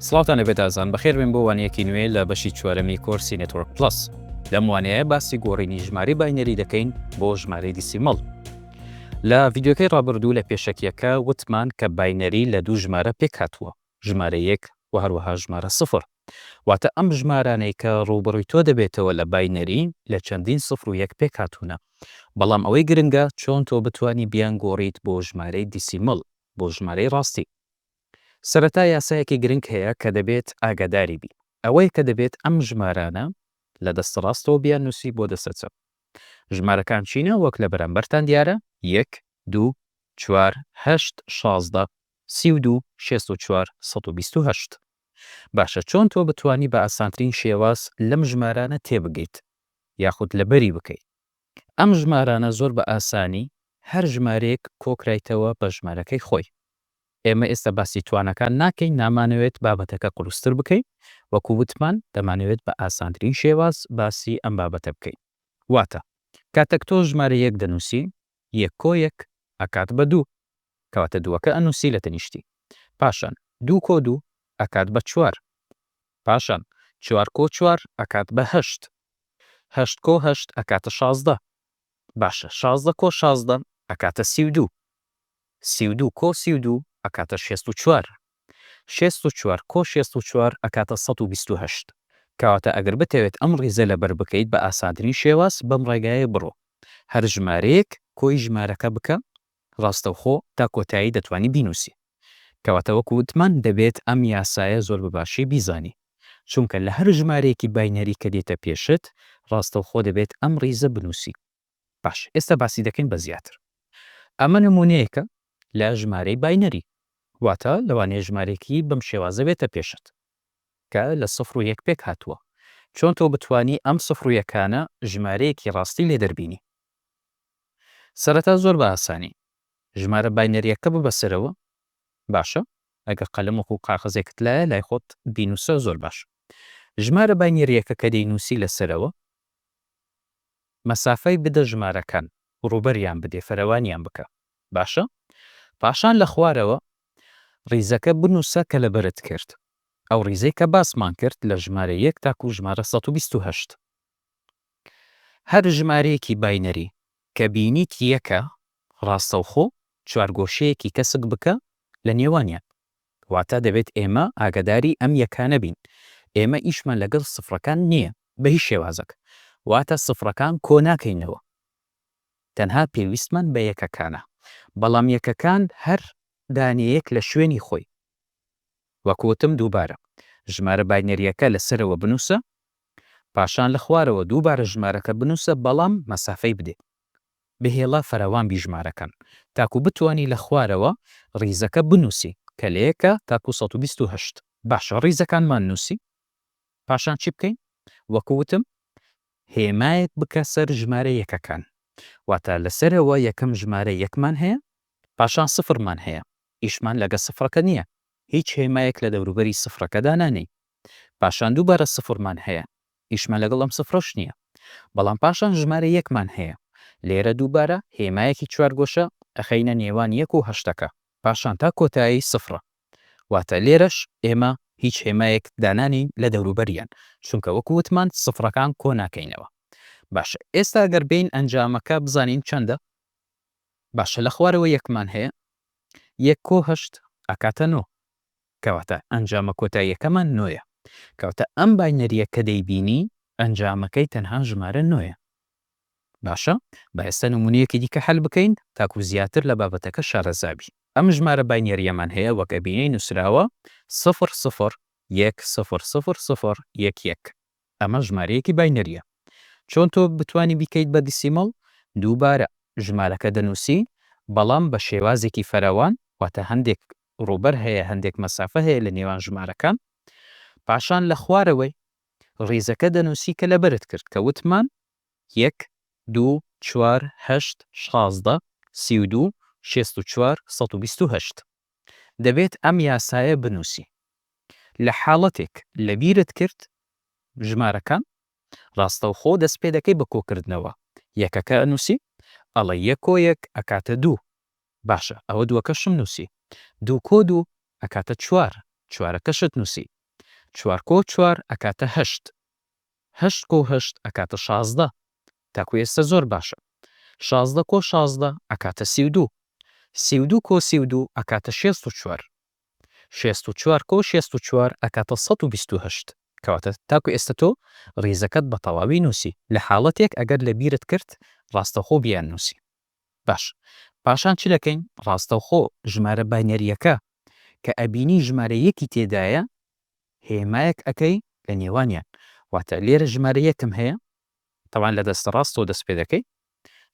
سڵاوتان لەبێت ئازان بەخێربێن بۆ وانەیەکی نوێ لە بەشی چوارەمی کۆرسی نێتۆرک پڵەس لەم وانەیە باسی گۆڕینی ژمارەی باینەری دەکەین بۆ ژمارەی دیسیمەڵ لە ڤیددیوکەی ڕابردوو لە پێشەکیەکە وتمان کە باینەری لە دوو ژمارە پێک هاتووە ژمارە یەک و هەروەها ژمارە سفر واتە ئەم ژمارانەی کە ڕووبڕی تۆ دەبێتەوە لە باینەری لە چەندین سفر و یەک پێک هاتوونە بەڵام ئەوەی گرنگە چۆن تۆ بتانی بیان گۆڕیت بۆ ژمارەی دیسیمەڵ بۆ ژمارەی ڕاستی. سەرەتا یاسایەکی گرنگ هەیە کە دەبێت ئاگاداری بی ئەوەیە کە دەبێت ئەم ژمارانە لە دەستە ڕاستەوە بیان نوسی بۆ دەستە چەپ ژمارەکان چینە وەک لە بەرامبەرتان دیارە یەک دوو چوار هەشت شازدە سی و دوو شێست و چوار سەد و بیست و هەشت باشە چۆن تۆ بتوانی بە ئاسانترین شێواز لەم ژمارانە تێبگەیت یاخود لەبەری بکەی ئەم ژمارانە زۆر بە ئاسانی هەر ژمارەیەک کۆکرایتەوە بە ژمارەکەی خۆی. ئێمە ئێستا باسی توانەکان ناکەین، نامانەوێت بابەتەکە قورستر بکەین، وەکو وتمان دەمانەوێت بە ئاسانترین شێواز باسی ئەم بابەتە بکەین. واتە کاتەک تۆ ژمارە یەک دەنووسی، یەک کۆ یەک ئەکات بە دوو کەواتە دووەکە ئەنووسی لە تەنیشتی پاشان دوو کۆ دوو ئەکات بە چوار پاشان چوار کۆ چوار ئەکات بە هەشت هەشت کۆ هەشت ئەکاتە شازدە باشە شازدە کۆ شازدە ئەکاتە سی و دوو سی و دوو کۆ سی و دوو ئەکاتە شێست و چوار شێست و چوار کۆ شێست و چوار ئەکاتە سەد و بیست و هەشت کەواتە ئەگەر بتەوێت ئەم ڕیزە لەبەر بکەیت بە ئاسانترین شێواز بەم ڕێگایە بڕۆ هەر ژمارەیەک کۆی ژمارەکە بکە ڕاستەوخۆ تا کۆتایی دەتوانی بینوسی کەواتە وەک وتمان دەبێت ئەم یاسایە زۆر بە باشی بیزانی چونکە لە هەر ژمارەیەکی باینەری کە دێتە پێشت ڕاستەوخۆ دەبێت ئەم ڕیزە بنوسی باشە ئێستا باسی دەکەین بە زیاتر ئەمە نمونەیەکە لە ژمارەی باینەری واتە لەوانەیە ژمارەیەکی بەم شێوازە بێتە پێشت کە لە سفر و یەک پێک هاتووە چۆن تۆ بتانی ئەم سفر و یەکانە ژمارەیەکی ڕاستی لێ دەربینی سەرەتا زۆر بە ئاسانی ژمارە باینەریەکە ببە سەرەوە باشە ئەگەر قەلم وەکو قاقەزێکت لایە لای خۆت بینوسە زۆر باش ژمارە باینەریەکە کە دەینوسی لەسەرەوە مەسافەی بدە ژمارەکان رووبەریان بدێ فەرەوانیان بکە باشە پاشان لە خوارەوە ریزەکە بنووسە کە لەبەرت کرد ئەو ریزەی کە باسمان کرد لە ژمارە یەک تاکوو ژمارە سەد و بیست و هەشت هەر ژمارەیەکی باینەری کە بینیت یەکە راستەوخۆ چوارگۆشەیەکی تەسک بکە لە نێوانیان واتە دەبێت ئێمە ئاگەداری ئەم یەکانە بین، ئێمە ئیشمان لەگەڵ سفرەکان نییە بەهیچ شێوازەک، واتە سفرەکان کۆ ناکەینەوە، تەنها پێویستمان بە یەکەکانە، بەڵام یەکەکان هەر دانەیەک لە شوێنی خۆی، وەک وتم دووبارە ژمارە باینەرییەکە لە سەرەوە بنووسە، پاشان لە خوارەوە دووبارە ژمارەکە بنووسە بەڵام مەسافەی بدەیت. بە هێڵە فراوان بیژمارەکەن تاکو بتوانی لە خوارەوە ڕیزەکە بنووسی کە لە یەکە تاکو سەد و بیست و هەشت. باشە ڕیزەکانمان نووسی پاشان چی بکەین؟ وەکو وتم هێمایەک بکە سەر ژمارە یەکەکان واتە لە سەرەوە یەکەم ژمارە یەکمان هەیە پاشان سفرمان هەیە ئیشمان لەگە سفرەکە نیە هیچ هێمایەک لە دەوروبەری سفرەکە دانانێین پاشان دووبارە سفرمان هەیە ئیشمان لەگەڵ ئەم سفرەش نییە. بەڵام پاشان ژمارە یەکمان هەیە. لێرە دووبارە هێمایەکی چوارگۆشە ئەخەینە نێوان یەک و هەشتەکە. پاشان تا کۆتایی سفرە. واتە لێرەش ئێمە هیچ هێمایەک دانانێین لە دەوروبەریان، چونکە وەکو وتمان سفرەکان کۆ ناکەینەوە. باشە ئێستا ئەگەر بێین ئەنجامەکە بزانین چەندە؟ باشە لە خوارەوە یەکمان هەیە. یەک کۆ هەشت ئەکاتە نۆ. کەواتە ئەنجامە کۆتاییەکەمان نۆیە. کەواتە ئەم باینەرییە کە دەیبینی ئەنجامەکەی تەنها ژمارە نۆیە. باشە با ئێستا نموونەیەکی دیکە حەل بکەین تاکوو زیاتر لە بابەتەکە شارەزا بی. ئەم ژمارە باینەرییەمان هەیە وەک ئەبینی نووسراوە سفر سفر یەک سفر سفر سفر یەک یەک. ئەمە ژمارەیەکی باینەریە چۆن تۆ بتوانی بیکەیت بە دیسیمەڵ دووبارە ژمارەکە دەنوسی بەڵام بە شێوازێکی فراوان واتە هەندێک ڕووبەر هەیە هەندێک مەسافە هەیە لە نێوان ژمارەکان پاشان لە خوارەوەی ڕیزەکە دەنوسی کە لەبەرت کرد کە وتمان یەک دوو چوار هەشت شازدە سی و دوو شێست و چوار سەد و بیست و هەشت. دەبێت ئەم یاسایە بنووسی لە حاڵەتێک لەبیرت کرد ژمارەکان ڕاستەوخۆ دەست پێ دەکەی بە کۆکردنەوە یەکەکە ئەنووسی ئەڵێی یەک کۆ یەک ئەکاتە دوو باشە ئەوە دووەکەشم نووسی دوو کۆ دوو ئەکاتە چوار چوارەکەشت نووسی چوار کۆ چوار ئەکاتە هەشت هەشت کۆ هەشت ئەکاتە شازدە تاکو ئێستە زۆر باشە شازدە کۆ شازدە ئەکاتە سی و دوو سی و دوو کۆ سی و دوو ئەکاتە شێست و چوار شێست و چوار کۆ شێست و چوار ئەکاتە سەد و بیست و هەشت کەواتە تاکو ئێستە تۆ ڕیزەکەت بە تەواوی نووسی لە حاڵەتێک ئەگەر لە بیرت کرد ڕاستەوخۆ بیان نووسی باش پاشان چ دەکەین ڕاستەوخۆ ژمارە باینەریەکە کە ئەبینی ژمارە یەکی تێدایە هێمایەک ئەکەی لە نێوانیان واتە لێرە ژمارە یەکم هەیە تەوان لە دەستە ڕاستەوە دەست پێ دەکەی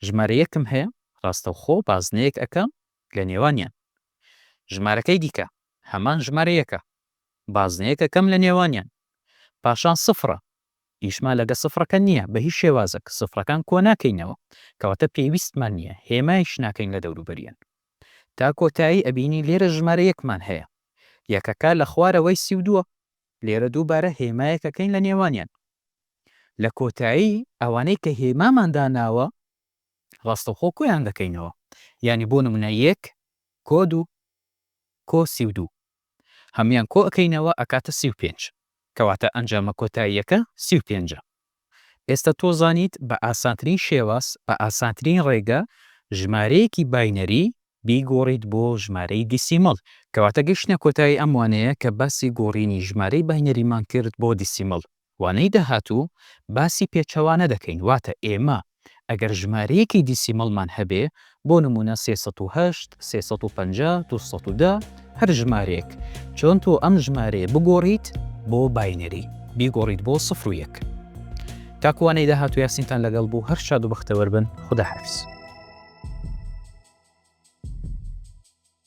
ژمارە یەکم هەیە ڕاستەوخۆ بازنەیەک ئەکەم لە نێوانیان ژمارەکەی دیکە هەمان ژمارە یەکە بازنەیەک ئەکەم لە نێوانیان پاشان سفرە ئیشمان لەگە سفڕەکە نیە بە هیچ شێوازەک سفڕەکان کۆناکەینەوە کەواتە پێویستمان نیە هێمایش ناکەین لە دەوروبەریان تا کۆتایی ئەبینین لێرە ژمارە یەکمان هەیە یەکەکە لە خوارەوەی سی و دووە لێرە دووبارە هێمایەک ئەکەین لە نێوانیان لە کۆتایی ئەوانەی کە هێمامان داناوە ڕاستەوخۆ کۆیان دەکەینەوە یانی بۆ نمونە یەک کۆ دوو کۆ سی و دوو هەموویان کۆ ئەکەینەوە ئەکاتە سی و پێنج کەواتە ئەنجامە کۆتاییەکە سی و پێنج ە ئێستا تۆ زانیت بە ئاسانترین شێواز بە ئاسانترین ڕێگە ژمارەیەکی باینەری بیگۆڕیت بۆ ژمارەی دیسیمەڵ کەواتە گەیشتینە کۆتایی ئەم وانەیە کە باسی گۆڕینی ژمارەی باینەریمان کرد بۆ دیسیمەڵ وانەی داهاتوو باسی پێچەوانە دەکەین، واتە ئێمە ئەگەر ژمارەیەکی دیسیمەڵمان هەبێ، بۆ نموونە سێ سەد و هەشت، سێ سەد و پەنجا، دوو سەد و دە، هەر ژمارەیەک، چۆن تۆ ئەم ژمارەیە بگۆڕیت بۆ باینەری، بیگۆڕیت بۆ سفر و یەک. تاکو وانەی داهاتوو یاسینتان لەگەڵ بوو، هەر شاد و بەختەوەر بن، خوداحافیز.